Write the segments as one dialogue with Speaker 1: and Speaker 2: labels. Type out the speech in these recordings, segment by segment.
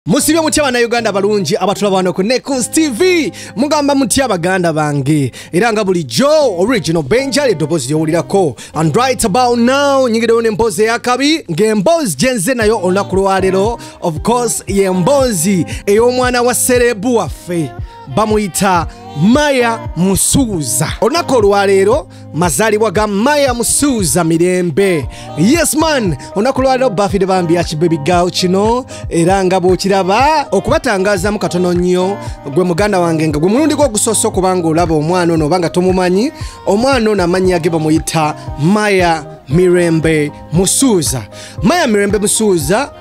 Speaker 1: musibye mutya bannayuganda balungi abatulaba wano ku nekus tv mugamba mutya baganda bange era nga bulijjo original benja ly'eddoboozi lyowulirako and right about now nyingidewo n'emboozi eyakabi ng'emboozi gye nze nayo olunaku lwaleero of course y'emboozi ey'omwana wa serebu waffe bamuyita maya musuuza olunaku olwaleero mazalibwa ga maya musuuza mirembe yes man olunaku lwaliro bafide bambi yakibebigawo kino era nga bwokiraba okubatangazamu katono nnyo gwe muganda wange nga gwe mulundi gwe ogusoosa okubanga olaba omwana ono obanga tomumanyi omwana ono amannya ge bamuyita maya mirembe musuuza maya mirembe musuuza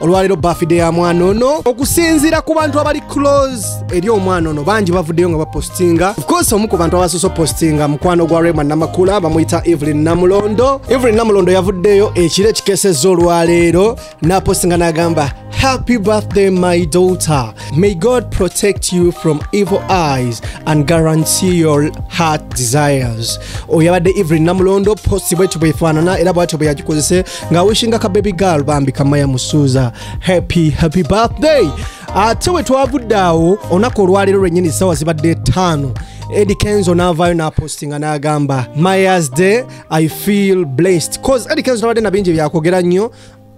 Speaker 1: olwaleero bafide ya mwana ono okusinziira ku bantu abali close eri omwana ono bangi bavuddeyo nga bapostinga ofcourse omu ku bantu abasoose opostinga mukwano gwa rema namakula bamuyita evelyn namulondo evelyn namulondo yavuddeyo ekiro ekikeseza olwaleero napostinga n'agamba Happy birthday, my daughter. May God protect you from evil eyes and guarantee your heart desires. Oyabade Evelyn Namulondo post bwetu bwefanana era bwatu bweyagikozese nga wishinga ka baby girl bambi kamaya musuuza happy happy birthday ate we twavudde awo olunaku olwaleero lwennyini ssaawa zibadde ttaano Eddie Kenzo n'avaayo n'apostinga n'agamba mayas day i feel blessed cause Eddie Kenzo nabadde na bingi byakwogera nnyo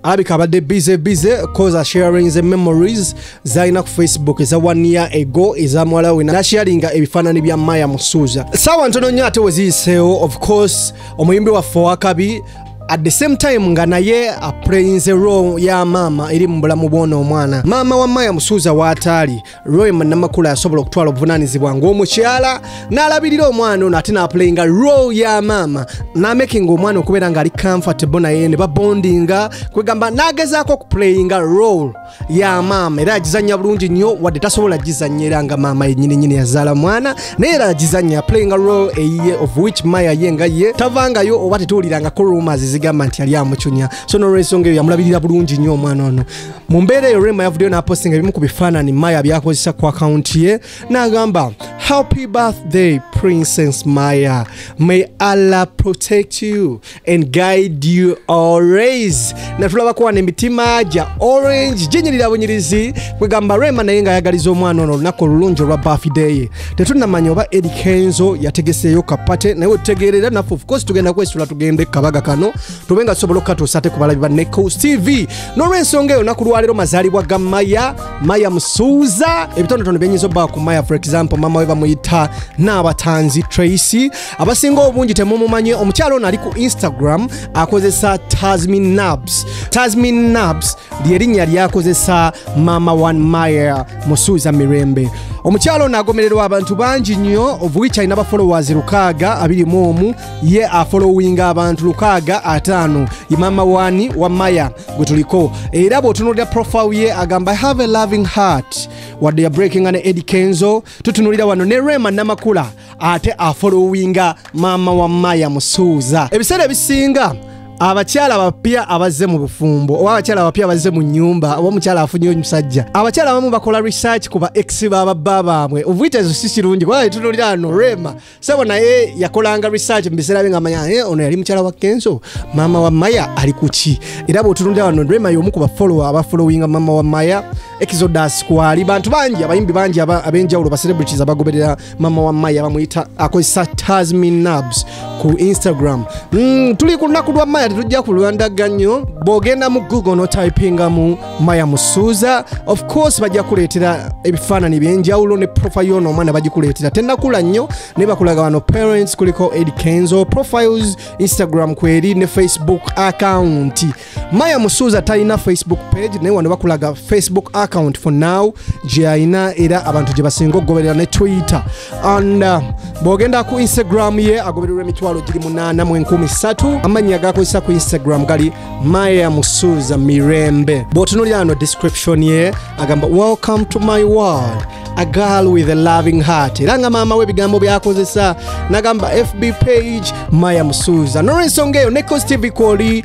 Speaker 1: alabika abadde bize bize cause asharing the memories zalina ku facebook eza one year ago eza muwala we nasharinga ebifaanani bya maya musuuza saawa ntono nnyo ate weziyiseewo of course omuyimbi waffe owakabi at the same time nga naye aprayinze ro ya maama eri mu bulamu bwona omwana maama wa maya musuuza waataali roy munamakula yasobola okutwala obuvunanyizibwa ngaomukyala n'alabirira omwana ono ate n'aplayinga ro ya maama n'amakinga omwana okubeera ng'ali comfortable naye ne babondinga kwegamba n'agezaako okuplayinga role ya maama era agizanya bulungi nnyo wadde tasobola gizanya era nga maama yenyini nyini yazaala mwana naye era agizanya playing role eyiye of which maya ye nga ye tavangayo oba tetuwulirangako rumors zigamba nti yali amucunya so nolwensonga eyo yamulabirira bulungi nnyo omwana ono mu mbeera eyo rema yavuddeyo n'apostinga ebimu ku bifaanani maya byakozesa ku akawunti ye n'agamba happy birthday princess maya may allah protect you and guide you always natulabako wano emitima gya orange ginyirira bunyirizi kwegamba rema naye nga ayagaliza omwana ono olunaku olulungi olwa bafideye tetunamanya oba eri kenzo yategeseeyo kapate naye otutegeerera naffe ofcourse tugenda kwesula tugende kabaga kano tube nga tusobola okukatuusa ate kubalabi ba necos tv n'olwensonga eyo naku lwaleero mazaalibwa ga maya maya musuuza ebitonotono byenyinza obba ku maya for example mama we bamuyita naabatanzi tracy abasinga obungi temumumanye omukyalo ono ali ku instagram akozesa tasmin nabs tasmin nabs lyerinnya lyakozesa mama one maya musuuza mirembe omukyalo ono agomererwa abantu bangi nnyo ovuich alina bafolowers lukaaga abiri mu omu ye afolowinga abantu lukaaga ataano ye mama wani wa maya gwe tuliko era bw'otunuulira profile ye agamba have a loving heart wadde ya breakinga ne edi kenzo tutunulira wano ne rema namakula ate afolowinga maama wa maya musuuza ebiseera ebisinga abakyala abapya abazze mu bufumbo oba abakyala abapya abazze mu nyumba oba omukyala afunye omusajja abakyala abamu bakola research ku ba ex bababba baabwe ovuitezo si kirungi kuba etunulira ano rema sebo naye yakolanga research mu biseera bye nga manya eh, ono yali mukyala wa kenso maama wa maya ali kuki era bwotunulira wano rema yomu ku bafollowa abafolowinga maama wa maya exodus kwali bantu bangi abayimbi bangi abenjawulo ba celebrities abagoberera mama wa maya bamuyita akozesa tasmin nabs ku instagram mm, tuli ku lunaku lwa maya tetujja ku lwandaga nnyo bwogenda mu google notypingamu maya musuuza of course bajja kuleetera ebifaanani byenjawulo ne profile yono omwana bagikuleetera tenakula nnyo naye bakulaga wano parents kuliko ed kenzo profiles instagram kweri ne facebook account maya musuuza talina facebook page naye wano bakulaga facebook account for now gyeyalina era abantu gye basinga okugoberera ne twitter and uh, bwogenda ku instagram ye agobererwa emitwalo giri munaana mu enkumi satu amannya gakozesa ku instagram gali maya musuuza mirembe bw'otunulira ano description ye agamba welcome to my world a girl with a loving heart era nga maama we ebigambo byakozesa nagamba fb page maya musuuza nolwensonga eyo ne costv kwoli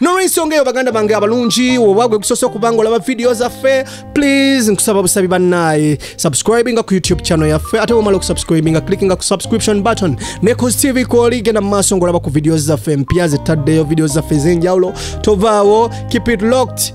Speaker 1: nolwensonga eyo baganda bange abalungi oba gwe gusoose okubanga olaba vidiyo zaffe please nkusaba busabi bannaaye subscribinga ku youtube channel yaffe ate womala okusubscribinga clickinga ku subscription button ne cos tv kwoli genda mu maaso ngaolaba ku vidiyo zaffe empya zettaddeyo vidiyo zaffe ez'enjawulo tovaawo keep it locked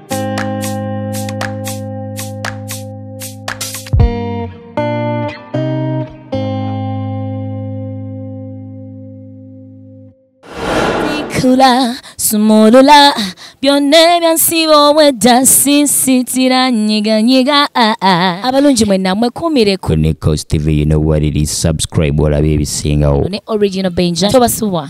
Speaker 2: Kula, sumulula, byonna ebyansiba obwedda sisitira nyiganyiga ah, ah. abalungi mwenna mwekuumire ku Nico's TV, you know
Speaker 3: what it is. Subscribe, olabe ebisingawo. ne original benja
Speaker 2: tobasubwa